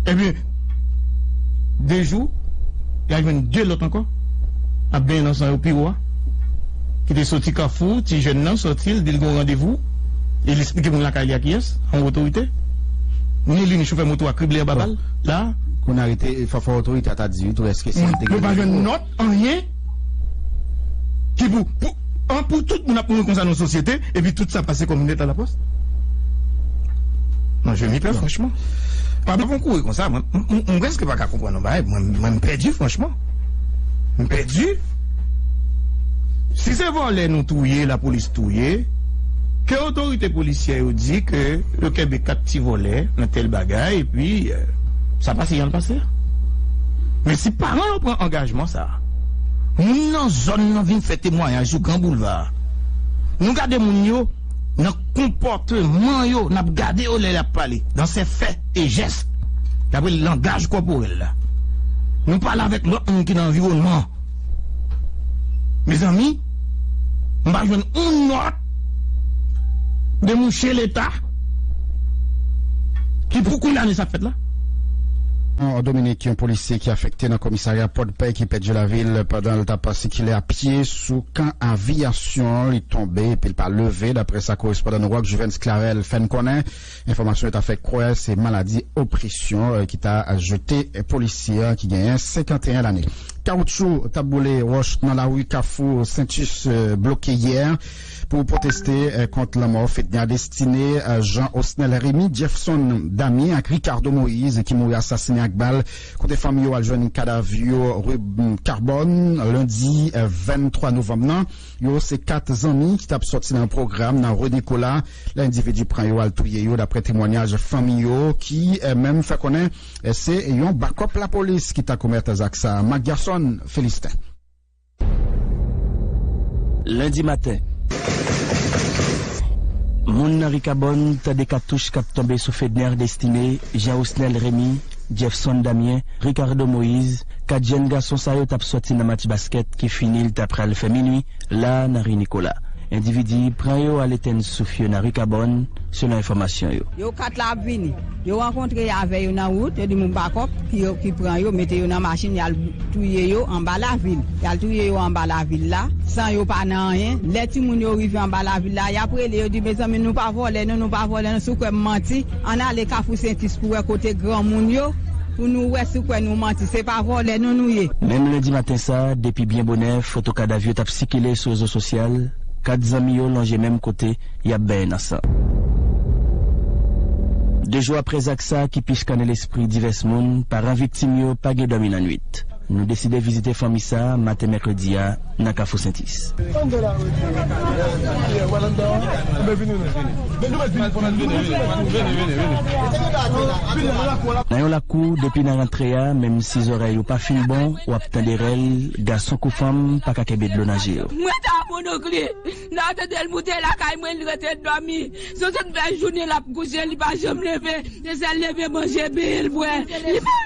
Ebyen, de jou, y a jwenn de lòt ankò k ap benyen nan san yo pi wo a, ki te soti Kafou. Ti jèn nan soti, l di l gen yon randevou e l esplike moun lakay li a kiyès, yon otorite. Ni li ni chofè moto a krible anba bal la. Kounye a rete fò fò otorite a ta di wi tou èske se li te gen randevou a. Anyen ki pou pou an pou tout moun ap mouri konsa nan sosyete epi tout sa pase kòm lèt a lapòs? Mwen jwenn li pè franchman. Papa pa kouri konsa mwen mwen prèske pa ka konprann yon bagay mwen mwen m pèdi franchman. M pèdi. Si se vòlè nou touye lapolis touye ke otorite polisyè yo di ke yo kenbe 4 ti vòlè nan tèl bagay epi sa pase jan l pase. Men si paran yo pran angajman sa a, moun nan zòn nan vin fè temwayaj sou gran boulva a. Nou gade moun yo nan konpòteman yo, n ap gade yo lè y ap pale, nan sè fè e jès, dapre langaj kòporèl la. Nou pale avèk lòt moun ki nan anviwònman an. Mezanmi m pa jwenn on nòt de mouche leta ki pou kondane sa k fèt la. An Dominik, yon polisye ki afekte nan komisarya Pòdpè ki pèdi lavi l pandan l t ap sikile a pye sou kan aviyasyon an. Li tonbe epi l pa leve, daprè sa korespondan nou Rock Juvens Clarel fè n konnen. Enfòmasyon yo ta fè kwè se maladi opresyon ki ta jete polisye an ki genyen 51 lane. Kawoutchou t ap boule wòch nan lari Kafou Sentus bloke yè pou pwoteste kont lanmò Fedna Destine, Jean Osnel Remy, Jeffson Damien ak Ricardo Moïse ki mouri asasinen ak bal kote fanmi yo al jwenn kadav yo rue Carbone lendi 23 novanm nan. Yo se 4 zanmi ki tap sòti nan yon pwogram nan Rue Nicolas lè endividi pran yo al touye yo daprè temwanyaj fanmi yo ki menm fè konnen se yon bakòp lapolis ki ta komèt zak sa. Marc Garçon Philistin. Lendi maten, moun nan Ricabòn tande katouch k ap tonbe sou Fedner Destiné, Jean Osnel Rémy, Jefson Damien, Ricardo Moise, 4 jèn gason sa yo t ap sòti nan match baskèt ki fini l ta pral fè minui la nan ri Nikola. Endividi pran yo al etenn souf yo nan ri Kabòn, selon enfòmasyon yo. Yo 4 la ap vini. Yo rankontre avè yo nan wout, yo di moun pa kòk ki yo ki pran yo, mete yo nan machin y al touye yo anba lavil. Y al touye yo anba lavil la, san yo pa nan anyen. Lè timoun yo rive anba lavil la, y ap rele, yo di mezanmi nou pa vòlè non, nou pa vòlè non, sou kwè m manti. Ann ale kafou sentis pou wè kote granmoun yo pou nou wè si w kwè nou manti. Se pa vòlè non nou ye. Menm lendi maten sa, depi byen bonè, foto kadav yo t ap sikile sou rezo sosyal, kat zanmi yo lonje menm kote, y ap benyen nan san. De jou aprè zak sa ki pi chkane lespri divès moun, paran viktim yo pa gen dòmi nan nuit. Nou deside vizite fanmi sa a maten mèkredi a nan Kafou Sentis. Nan yon lakou, depi nan rantre a, menm si zòrèy ou pa fin bon, w ap tande rèl, gason kou fanm pa ka kenbe dlo nan je yo. Mwen ta moun ok li nan tete l moute lakay mwen li rete domi sou tout bel jounen lap kouche li pa janm leve se sel leve manje benyen l bwe li pa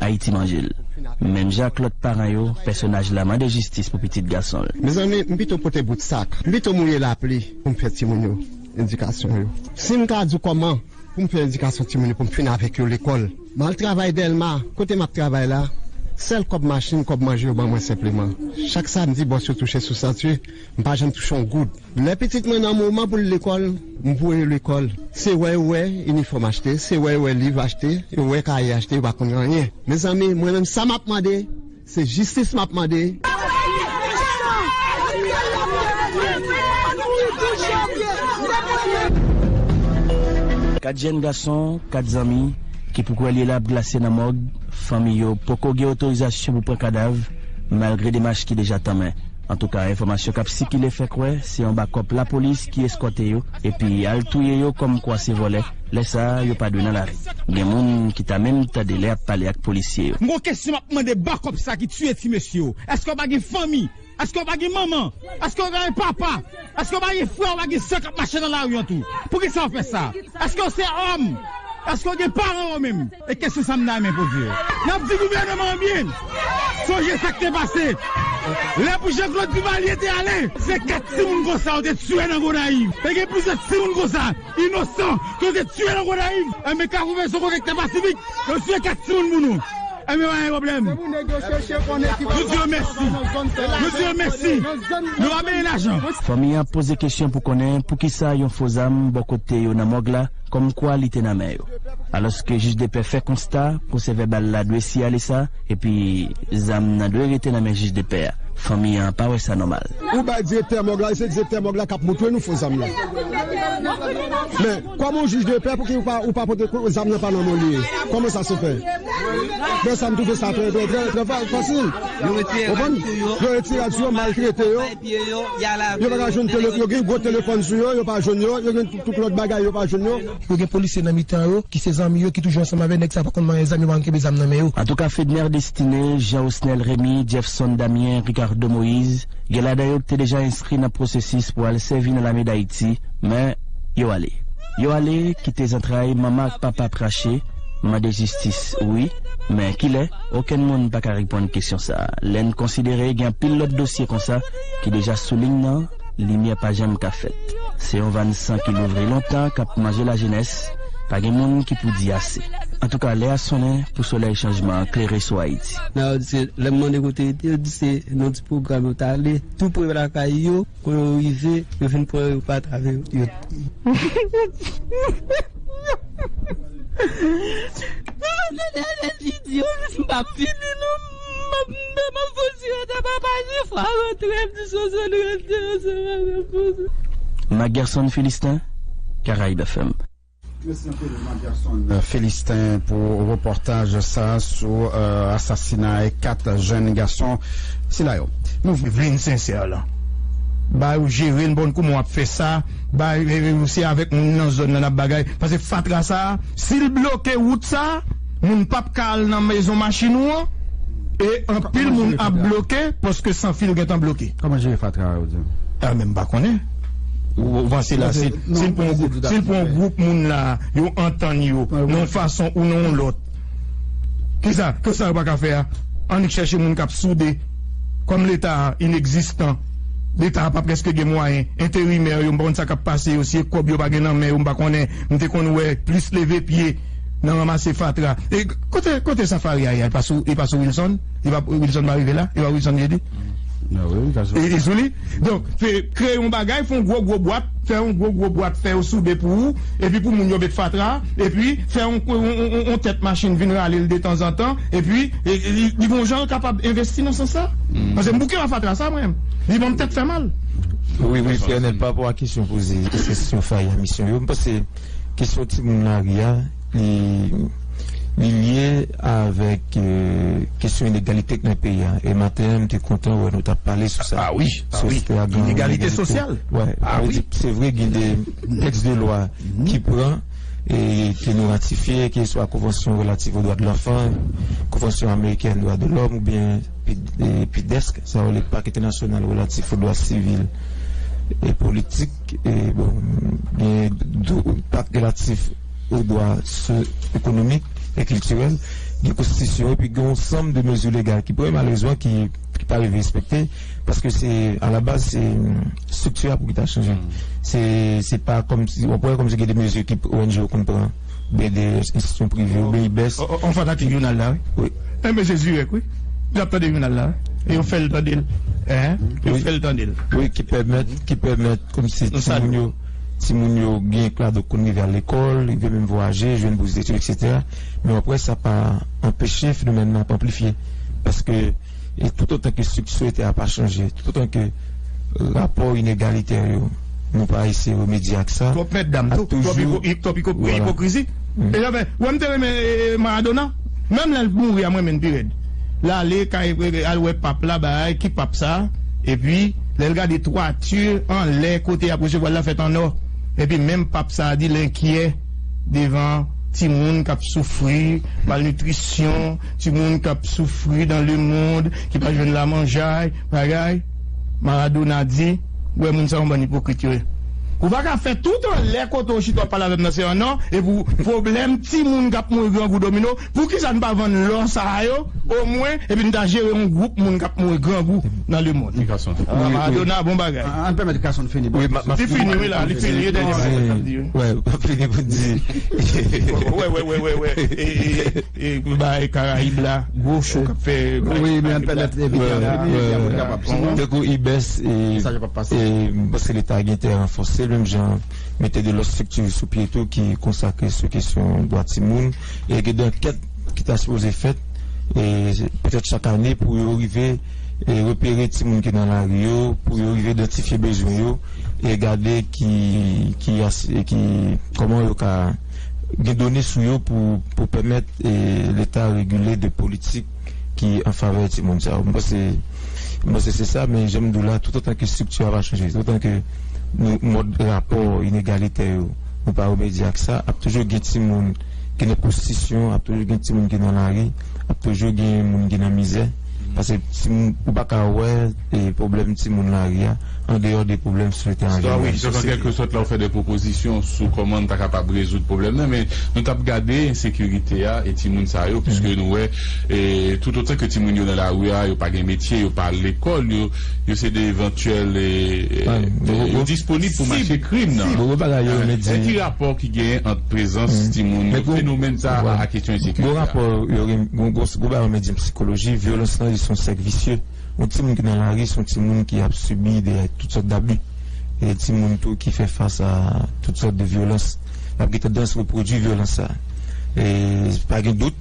Ayiti manje l. Menm jan ak lòt paran yo, pèsonaj la mande jistis pou pitit gason l. Mezanmi, m pito pote bout sak, m pito mouye lapli pou m fè timoun yo edikasyon yo. Si m ka di w kòman pou m fè edikasyon timoun yo pou m fin avèk yo lekòl, m al travay Dèlma, kote m ap travay la, sèl kòb machin, kòb manje yo ban mwen senpleman. Chak samdi, bòs yo touche sou santye, m pa janm touche yon goud. Lè pitit mwen nan moman pou l lekòl, m voye yo lekòl. Se wè yo wè inifòm achte, se wè yo wè liv achte, yo wè kaye achte, yo pa konn anyen. Mezanmi, mwen menm sa m ap mande, se jistis m ap mande. Kat jèn gason, kat zanmi, ki pou kwè li la ap glase nan mòg, fanmi yo poko gen otorizasyon pou pran kadav, malgre demach ki deja tanmen. Antouka enfòmasyon kap sikile fè kwè se anba kòp lapolis ki eskòte yo epi al touye yo kòm kwa se vòlè, lè sa yo pa dwe nan lari. Gen moun ki ta menm tande lè yap pale ak polisye yo. M gon kesyon map mande bakòp sa ki tiye ti mesye yo, eske yo pa gen fanmi, eske yo pa gen manman, eske yo pa gen papa, eske yo pa gen frè ou pa gen sè kap mache nan lari an tou? Poukisa yo fè sa? Eske yo se òm? Eske yo gen paran yo menm? E kesyon sa m nan men poze yo. N ap di gouvèneman an byen sonje sa k te pase lè pou Jean-Claude Duvalier te ale. Se 4 timoun konsa yo te tiye nan Gonayiv. E gen plizyè timoun konsa, inosan, ke yo te tiye nan Gonayiv. Enben Kafou fè son kote ki te pasifik, yo tiye 4 timoun pou nou. Enben pa gen pwoblèm. Nou di yo mèsi. Nou di yo mèsi. Nou pa benyen lajan. Fanmi an ap poze kesyon pou konnen poukisa yon fo zam bò kote yo nan mòg la. kòmkwa li te nan men yo. Alòske jijdepè fè konsta pwosèvèbal la dwe siyale sa epi zam nan dwe rete nan men jijdepè a, fanmi an pa wè sa nòmal. Ou bay direktè mòg la, e se direktè mòg la k ap montre nou fo zam nan. Men, kòm ou jijdepè, pouki ou pa pote prèv zam nan pa nan men li? Kòman sa se fè? Dè sa m twouve sa trè, trè, trè, trè fasil. Yo retire rad sou yo, yo retire rad sou yo, maltrete yo, yo pa ka jwenn telefòn, yo gen gwo telefòn sou yo, yo pa jwenn yo, yo gen. Tout lòt bagay yo pa jwenn yo. Yo gen polisye nan mitan yo ki se zanmi yo ki toujou ansanm avè nèg sa pa konn manyen zam yo pa konn kenbe zam nan men yo. Antouka Fedner Destiné, Jean Osnel Remy, Jeffson Damien, Ricardo Moïse, gen ladan yo ki te deja enskri nan pwosesis pou al sèvi nan lame Dayiti, men, yo ale. Yo ale, kite zantray manman ak papa trache, mande jistis, wi, men kilè, okenn moun pa ka reponn kesyon sa a, lè n konsidere gen anpil lòt dosye konsa ki deja sou liy nan, Limyè pa janm ka fèt. Se yon vàn san ki louvri lontan k ap manje lajenès, pa gen moun ki pou di ase. Antouka, lè a sonnen pou solèy chanjman an klere sou Ayiti. Nan yo di se, lè m mande kote yo te, yo di se nan ti pwogram yo t ale tou pre lakay yo, kon yo rive, yo vin pran yo pa ta vle yo t. Magerson Philistin caraibefm. Mèsi anpil Magerson Philistin pou repòtaj sa sou asasinay 4 jèn gason sila yo. Nou vin sensè lan bay ou jere n bon kouman w ap fè sa bay se avèk moun nan zòn lan n ap bagay pase fatra sa si l bloke wout sa. moun pap ka al nan mezon machin ou an e anpil moun ap bloke paske san fil gentan bloke. Kòman jere fatra a ou di an? A men m pa konnen. Ou panse la si l pran si l pran yon gwoup moun la yo antann yo nan yon fason ou nan yon lòt kisa kisa yo pa ka fè a? Annik chèche moun k ap soude kòm leta a inegzistan leta a pa prèske gen mwayen enterimè yo m pa konn sa k ap pase yo si e kòb yo pa gen nan men yo m pa konnen m te konn wè plis leve pye nan ranmase fatra e kote kote safari a ye a e pa sou e pa sou wilson e pa wilson pa rive la e pa wilson ye di e sou li donk fe kreye yon bagay fon gwo gwo bwat fè yon gwo gwo bwat fè yo soude pou ou epi pou moun yo met fatra epi fè yon yon tèt machin vin rale l detanzantan epi li gon jan l kapab envesti nan sans sa pase m bouke wè fatra sa mwen li banm tèt fè mal wi wi fènel pa rapò a kesyon poze se kesyon fari a misyon yo m pase. Kesyon timoun lari a, li li lye avèk kesyon inegalite k nan peyi a. E maten an m te kontan wè nou t ap pale sou sa. A wi, a wi. Inegalite sosyal. Wè. A wi. Se vre gen de tèks de lwa ki pran e ke nou ratifye, ke swa konvansyon relatif o dwa de lanfan, konvansyon amerikèn dwa de lòm oubyen PIDESK, sa yo rele Pak entènasyonal relatif o dwa sivil e politik. Genyen dwa enpak relatif o dwa so ekonomik e kiltirèl, gen konstitisyon epi gen yon sanm de mezi legal ki pran malerezman ki pa rive respekte paske se alabaz se estrikti a pou ki ta chanje se pa kòmsi, wè kòmsi gen de mezi ki ong yo konn pran. BD institution prive yo bay bès. Yon fanatik jounal la wi. Enben se zirèk wi. Li ap tande jounal la wi. E yo fè l tande l. Yo fè l tande l. Wi ki pèmèt, ki pèmèt kòmsi timoun yo, timoun yo gen klado konn rive al lekòl, rive menm vwayaje, jwenn bous detid eksetera. Men wap wè sa pa anpeche fenomèn nan ap anplifye. Paske. E toutotan ke estrikti soyete a pa chanje, toutotan ke rapò inegalitè yo, nou pa eseye remedye ak sa, Twòp mètdam, ap toujou, twòp ipokrizi. E jan fè, wè m te renmen Maradona, menm lè l t mouri a m renmen l pi rèd. L ale kay, al wè pap la bay, ki pap sa? Epi lè l gade twati anlè kote y ap resevwa l la fèt an nò. Epi menm pap sa a di l enkyè devan timoun k ap soufri malnitrisyon. Timoun kap soufri dan le mond ki pa jwenn la manjay bagay Maradona di ou wè moun sa yon bann ipokrit yo ye ou pa ka fè tout anlè kote ou chita wap pale avèm nan se an or epi ou pwoblèm timoun kap mouri grangou domino pou kisa nou pa vann lò sa yo o mwen epi nou ta jere yon gwoup moun kap mouri grangou nan le mond Maradona bon bagay Ann pèmèt Kasonn fini bò tou se li fini wi la li fini e dènye bagay li tap di wi. Wè map fini pou di. Wè wè wè wè wè e e. Pou bay karayib la gwo show kap fè tankou ibes e paske leta gen tè ranfòse menm jan mete de lòt strikti sou pye tou ki konsakre sou kesyon dwa timoun e gen de ankèt ki ta sipoze fèt e petèt chak ane pou yo rive e repere timoun ki nan lari yo pou yo rive idantifye bezwen yo e gade ki kòman yo ka. gen done sou yo pou pèmèt leta regile de politik ki an favè timoun sa yo. Mwen panse se sa, men jan m di w la, toutotan ke estrikti a pa chanje, toutotan ke mòd rapò inegalitè yo nou pa remedye ak sa, ap toujou gen timoun ki nan pwostitisyon, ap toujou gen timoun ki nan lari, ap toujou gen moun ki nan mizè, pase timoun, ou pa ka wè. pwoblèm timoun lari a, andeyò de pwoblèm sosyete an jeneral. Wi, donk an kèlke sòt la ou fè de pwopozisyon sou kòman nou ta kapab rezoud pwoblèm nan, men nou t ap gade ensekirite a e timoun sa yo, piske nou wè toutotan ke timoun yo nan lari a, yo pa gen metye, yo pa al lekòl, yo se de evantyèl, yo disponib pou mache krim nan. Men ki rapò ki genyen ant prezans timoun yo, fenomèn sa a ak kesyon ensekirite a? Gwo rapò, gwo bagay yo rele psikoloji, vyolans lan li se yon sèk visye. Yon timoun ki nan lari se yon timoun ki ap sibi de tout sòt dabi. Se yon timoun tou ki fè fas a tout sòt de vyolans. L ap gen tandans repwodui vyolans sa a. Pa gen dout,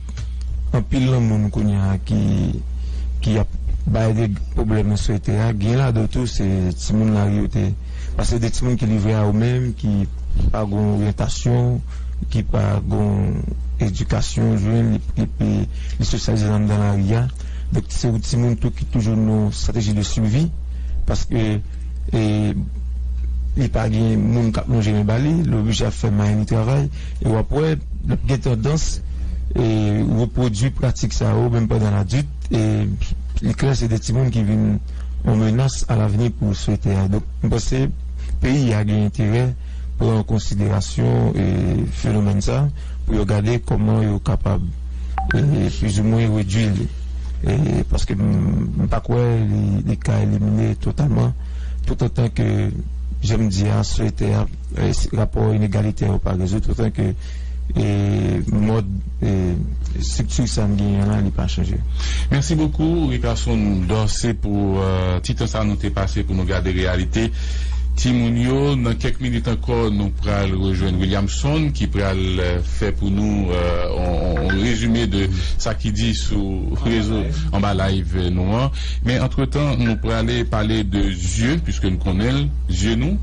anpil nan moun kounye a ki ap bay de pwoblèm nan sosyete a, gen ladan yo tou se timoun lari yo te ye. Pase se de timoun ki livre a yo menm, ki pa gen yon oryantasyon, ki pa gen yon edikasyon yo jwenn epi li sosyalize anndan lari a. Donk se yon timoun tou ki toujou nan yon strateji de survie paske li pa gen moun kap lonje men ba li, li oblije ap fè main li travay e wap wè lap gen tandans repwodui pratik sa yo menm pandan ladit e li klè se de timoun ki vin yon menas a lavni pou sosyete a. Donk m panse peyi a gen enterè pran an konsiderasyon fenomèn sa pou yo gade kòman yo kapab. pwizimwen redwi li paske m pa kwè li ka elimine totalman toutotan ke jan m di a sosyete a rapò inegalite yo pa rezoud toutotan ke mòd estrikti sa n genyen la li pa chanje. Mèsi bokou Rickerson Dorcé pou ti tan sa nou te pase pou nou gade reyalite. Timoun yo, nan kèk minit ankò nou pral rejwenn Williamson ki pral fè pou nou on rezime de sa ki di sou rezo, anba live nou an. Men antretan nou prale pale de zye piske nou konnen l, zye nou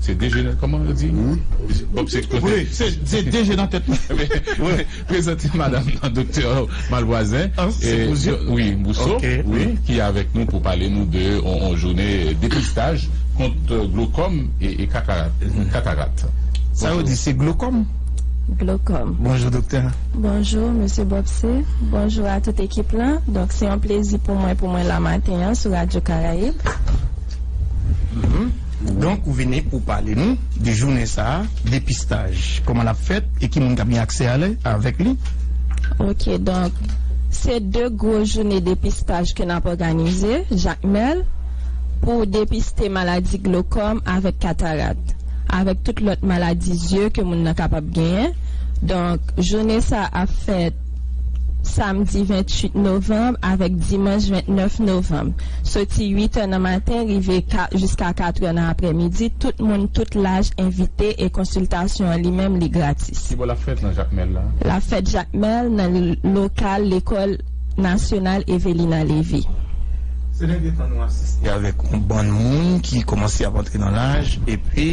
se 2 je nan, kòman yo di? Bon se. Wi, se 2 je nan tèt nou. Prezante madam nan Doktè Malvoisin wi Bousso wi ki avèk nou pou pale nou de yon jounen depistaj kont glokòm e katarat. Sa yo di se glokòm? Glokòm. Bonjou Doktè. Bonjou Mesye Bobse, bonjou a tout ekip la. Donk se yon plezi pou mwen pou mwen la maten an sou Radyo Karayib. Donk ou vini pou pale nou de jounen sa a, depistaj, kòman l ap fèt e ki moun k ap gen aksè ale avèk li? Ok, donk se 2 gwo joune depistaj ke n ap òganize, Jakmèl, pou depiste maladi glokòm avèk katarat, avèk tout lòt maladi zye ke moun nan kapab genyen. Donk joune sa a ap fèt Samdi 28 novanb avèk dimanch 29 novanb, soti 8 è nan maten rive jiska 4 è nan aprèmidi, tout moun tout laj envite e konsiltasyon an li menm li gratis. Kibò l ap fèt nan Jakmèl la? L ap fèt Jakmèl nan lokal lekòl Nasyonal Evelina Lévy. Se dènye tan nou asiste avèk yon bann moun ki kòmanse ap antre nan laj epi.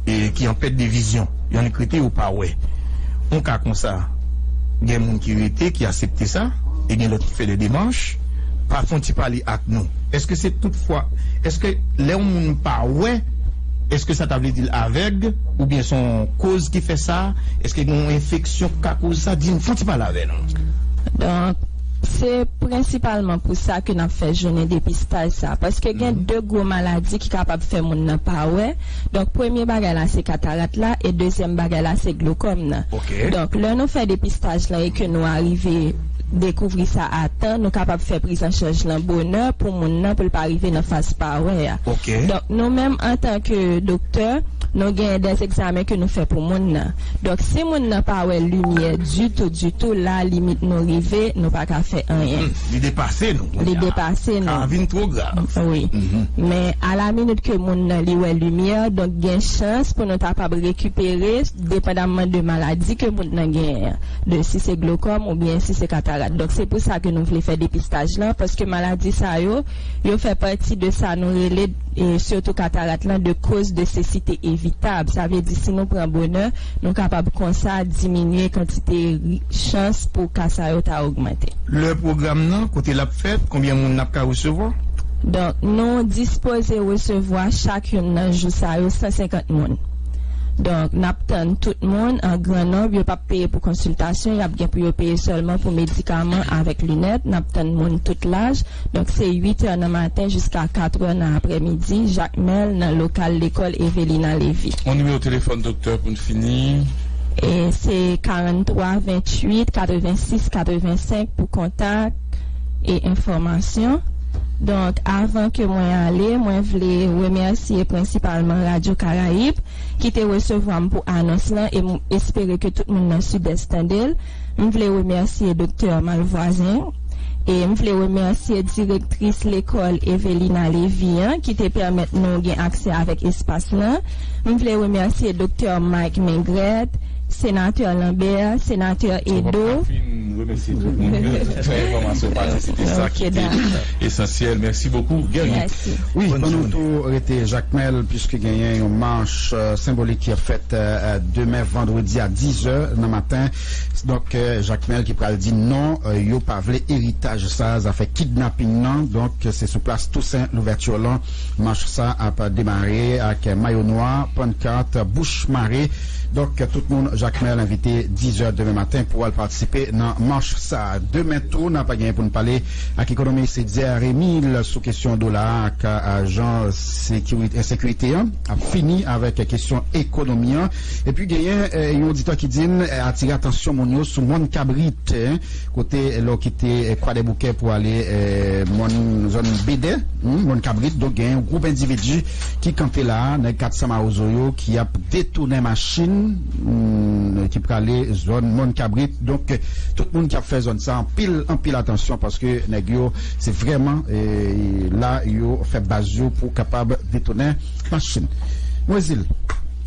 ki an pèt de vizyon, y annik rete yo pa wè. Yon ka konsa, gen moun ki rete, ki asepte sa, e gen lòt ki fè de demach. Pa fon ti pale ak nou. Èske se tout fwa, èske lè yon moun pa wè, èske sa ta vle di l avèg, oubyen son koz ki fè sa? Èske gen yon enfeksyon ki ka koz sa? Di n, fon ti pale avè nou. Se prensipalman pou sa ke n ap fè jounen depistaj sa, paske gen de gwo maladi ki kapab fè moun nan pa wè, donk premye bagay la se katarat la e dezyèm bagay la se glokòm nan. Donk lè nou fè depistaj lan e ke nou arive dekouvri sa a tan, nou kapab fè prizanchanj lan bonè pou moun nan pou l pa rive nan faz pa wè a. Donk nou menm antanke doktè, nou gen dè egzamen ke nou fè pou moun nan. Donk si moun nan pa wè limyè ditou ditou la limit nou rive nou pa ka fè anyen. Hum li depase nou kounye a. Li depase nou. Ka vin two grav. Wi. Men a la minit ke moun nan li wè limyè donk gen chans pou nou tapab rekipere depandamman de maladi ke moun nan genyen an. De si se glokòm ou byen si se katarat. Donk se pou sa ke nou vle fè depistaj lan paske maladi sa yo yo fè pati de sa nou rele. e sitou katarat lan de koz de sesite evitab, sa vle di si nou pran bonè nou kapab konsa diminye kantite ri chans pou ka sa yo ta ogmante. Lè pwogram nan, kote lap fèt, konbyen moun nap ka resevwa? Donk nou dispoze resevwa chak youn nan jou sa yo 150 moun. Donk nap tann tout moun an gran nonb, yo pap peye pou konsiltasyon, yap gen pou yo peye sèlman pou medikaman avèk linèt, nap tann moun tout laj. Donk se 8 è nan maten jiska 4 è nan aprèmidi, Jakmèl, nan lokal lekòl Evelina Lévy. On nimewo telefòn doktè pou n fini. E se 43 28 86 85 pou kontak e enfòmasyon. Donk avan ke mwen ale, mwen vle remèsye prensipalman Radyo Karayib ki te resevwa m pou anons lan e m espere ke tout moun nan Sidès tande l. M vle remèsye Doktè Malvoisin e m vle remèsye direktris lekòl Evelina Lévy an ki te pèmèt nou gen aksè avèk espas lan. M vle remèsye Doktè Mike Maigret, Senatè Lambert, Senatè Edo. Mwen pap ka fin remèsye tout moun yo, tout fè enfòmasyon pati se te sa ki te. Esansyèl mèsi bokou Guerrier. Mèsi. Wi ban nou tou rete Jakmèl puiske genyen yon mach senbolik ki ap fèt demen vandredi a 10 zè nan maten donk Jakmèl ki pral di non yo pa vle eritaj sa zafè kidnaping nan donk se sou plas Toussaint Louverture lan mach sa ap demare ak mayo nwa pankart bouch mare donk tout moun Jakmèl envite 10 zè demen maten pou al patisipe nan mach sa demen tou nap genyen poun pale ak ekonomis Etzer Emile sou kesyon dola a ak jan ensekirite an ap fini avèk kesyon ekonomi an. Epi genyen yon oditè ki di n atire atansyon moun yo sou Mòn Kabrit, kote lè w kite Kwadèboukè pou ale mòn zòn Bedè, Mòn Kabrit, donk genyen yon gwoup endividi. ki kanpe la a nèg 400 mawozo yo ki ap detounen machin ki prale zòn mòn kabrit donk tout moun ki ap fè zòn sa anpil anpil atansyon paske nèg yo se vrèman la yo fè baz yo pou kapab detounen machin mwen zil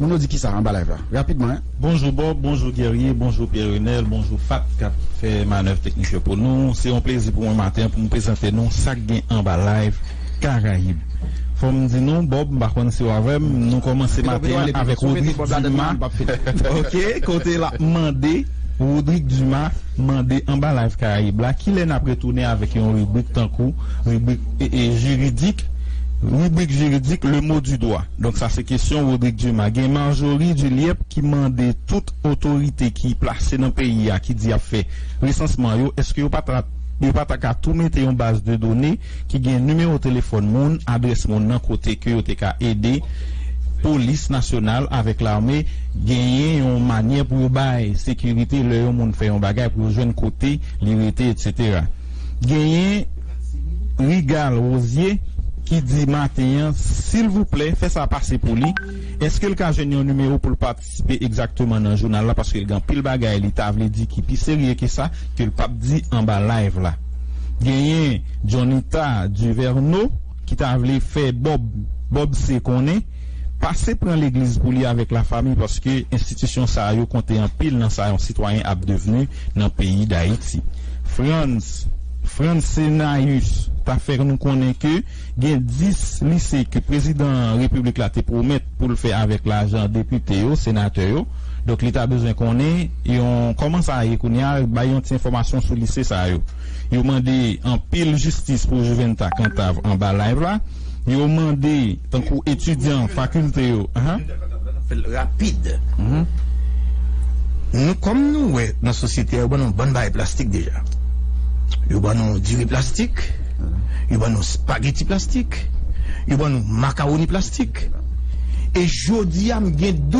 moun yo di kisa anba live la rapidman. Bonjou Bob, bonjou Guerrier, bonjou Pierre Renel, bonjou Fat kap fè manèv teknik yo pou nou. Se yon plezi pou mwen maten an pou m prezante nou sak gen anba live. Karayib. Fò m di nou, Bob, m pa konn si w avè m, nou kòmanse maten an avèk Rodrigue Dumas, ok, kote l ap mande, Rodrigue Dumas mande anba Live Karayib la, ki lè n ap retounen avèk yon ribrik tankou ribrik jiridik, ribrik jiridik le mot du doigt. Donk sa se kesyon Rodrigue Dumas. Gen Marjorie Duliep ki mande tout otorite ki plase nan peyi a ki di y ap fè resansman yo, èske yo pa ta Yo pa ta ka tou mete yon baz de done ki gen nimewo telefòn moun, adrès moun nan kote ke yo te ka ede polis nasyonal avèk lame genyen yon manyè pou yo bay sekirite lè yon moun fè yon bagay pou yo jwenn kote li rete etc. Genyen Rigal Rosie ki di maten an silvouplè fè sa pase pou li, eske l ka jwenn yon nimewo pou l pa patisipe egzakteman nan jounal la paske l gen anpil bagay li ta vle di ki pi serye ke sa ke l pap di anba live la. Genyen Johnita Duverneau ki ta vle fè Bob Bob C konnen pase pran legliz pou li avèk la fami paske enstitisyon sa a yo konte anpil nan sa yon sitwayen ap devni nan peyi Dayiti. Frantz Frantz Cenaeus ta fè nou konnen ke Gen 10 lise ke prezidan repiblik la te pwomèt pou l fè avèk lajan depite yo, senatè yo. Donk li ta bezwen konnen yon kòman sa ye kounye a, bay yon ti enfòmasyon sou lise sa yo. Yo mande anpil jistis pou Juventa Cantave anba live la. Yo mande tankou etidyan fakilte yo. Fèl rapid humm nou kòm nou wè nan sosyete a yo ban nou bann bagay plastik deja yo ban nou diri plastik yo ban nou spageti plastik yo ban nou makawoni plastik e jodi a m gen dout